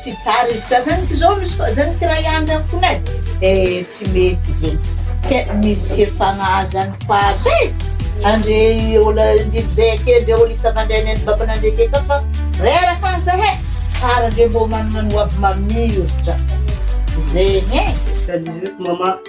Tsy tsara izy ka zany ko zao misy koa zany kiray anga fona e! e tsy mety zegny ke misy efa mahazany faty e! andre olo indimy zay ake ndre olo hita mandray ny any bako nandre ke ka fa reraka any zahe tsara ndre mbô manana ny hoavy mamilitra zegny e!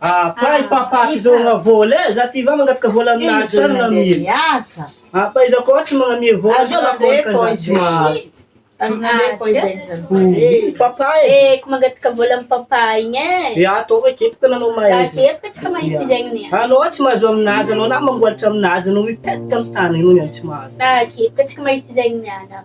Apa i papa tsy zogna vola eh, za ty va magnataka vola aminazy sa magnamia? Apa iza koa tsy magnamia vola sa magnamia za tsy mahazo? Ii papa eh! Eh ko mangataka vola am papa igny eh! Ia tô hoe kepoka anao mahaizy! Za kepoka tsy ka mahitsy zegny anie! Anao tsy mahazo aminazy anao na mamboalitra aminazy anao mipetraka am tany anao tsy mahazo! Za kepoka tsy ka mahitsy zegny niala!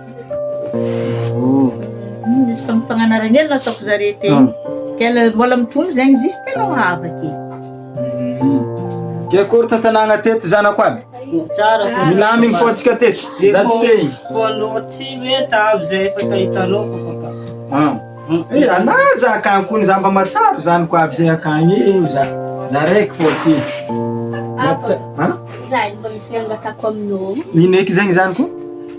Nisy fagnanaragna hely nataoko zare teo. Kay le mbola mitombo zegny izy izy tena hava ake. Dia akory tantanàna teto zanako aby. Tsara fa Milamigny fô antsika teto. Za tsy te igny. Fô anao tsy hoe tavy zay efa tahitanao ko fa ka. Ah. Eh, ana za ka kony za mba matsaro zanako aby zay akagny eh, za. Za raiky fô ty. Matsa- Ha? Za mba misy angatako aminao. Ino eky zegny zanako?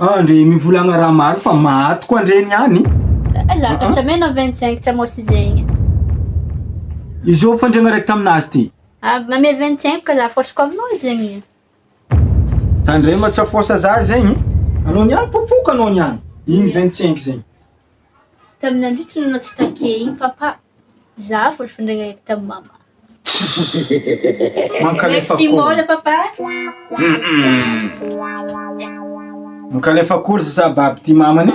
Ah, ndre mivolagna raha maro fa maty koa ndre ny any. Eh, lakatsy ame na 25 tsy amao sy zegny. Izao fandriagna raiky taminazy ty. Ah, ame 25 ka za fôsiko aminao edy zegny e. Tandrema tsy afôsa za zegny. Anao niany popoka anao niany. Igny 25 zegny. Tamin'ny nandritry ny noana tsy takia iny papa, izaho vao nifandray nahita tamin'i mama. Mankalefa Merci akory. Mola papa. Mankalefa akory sa baby ty mamany?